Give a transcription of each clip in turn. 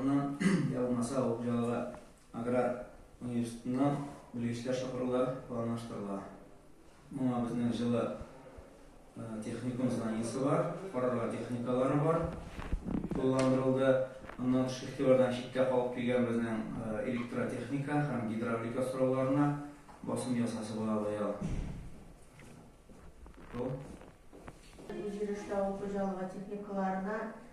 Аннан, йә булмаса, авыл хуҗалыгы аграр университетыннан белгечләр чакырулар планлаштырыла. Моңа безнең җылы техникум зданиесе бар, карарга техникалары бар, тулыландырылды. Аннан тыш игътибардан читтә калып килгән безнең электротехника һәм гидравлика сорауларына басым ясасы була быел. Бу. Җирешле авыл хуҗалыгы техникаларына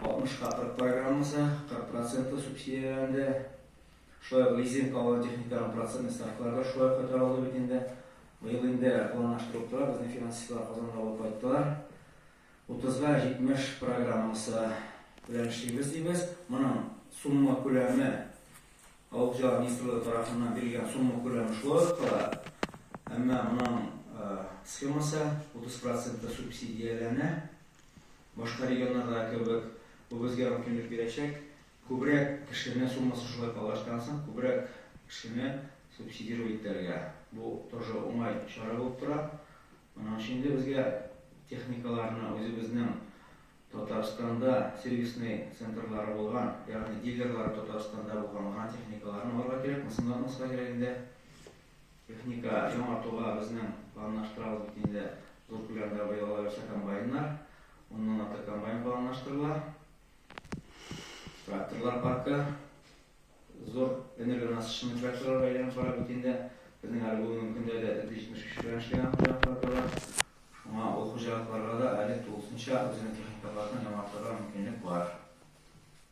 Алтмышка кырык программасы, 40 процентлы субсидияләнде. Шулай ук лизингка алган техниканың процентный ставкалары да шулай ук күтәрелде бит инде. Быел инде планлаштырылып тора, безнең финансистлар Казанга алып кайттылар. Утызга җитмеш программасы белән эшлибез, дибез. Моның сумма күләме, Авыл хуҗалыгы министрлыгы тарафыннан бирелгән сумма күләме шулай ук кала. Әмма моның схемасы, утыз процентлы субсидияләнә. Башка регионнардагы кебек, бу безгә мөмкинлек бирәчәк, күбрәк кешене, суммасы шулай калыштан соң, күбрәк кешене субсидировать итәргә. Бу тоже уңай чара булып тора. Моның өчен дә безгә техникаларны үзебезнең Татарстанда сервисный центрлары булган, ягъни дилерлары Татарстанда булган гына техникаларны алырга кирәк, мысынлатмаска кирәк инде. Техника яңартуга безнең планлаштырабыз бит инде зур күләмдә быелга үсә комбайннар. Уннан артык комбайн планлаштырыла. Тракторлар паркы зур энергонасыщенный тракторларга әйләнеп бара бит инде. Безнең әле бүгенге көндә дә 175 белән эшләгән хуҗалыклар да бар. Шуңа ул хуҗалыкларга да әле тулысынча үзенең техникаларын яңартырга мөмкинлек бар.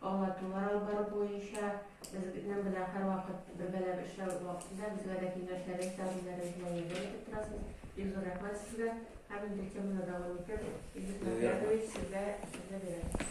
Аңлатулар алып бару буенча безнең белән һәрвакыт бергәләп эшләү вакытында безгә дә киңәшләрегез, тәкъдимнәрегез белән ярдәм итеп торасыз. Бик зур рәхмәт сезгә һәм инде теманы дәвам итеп Илдус Мөхәммәтович сезгә сүзне бирәм.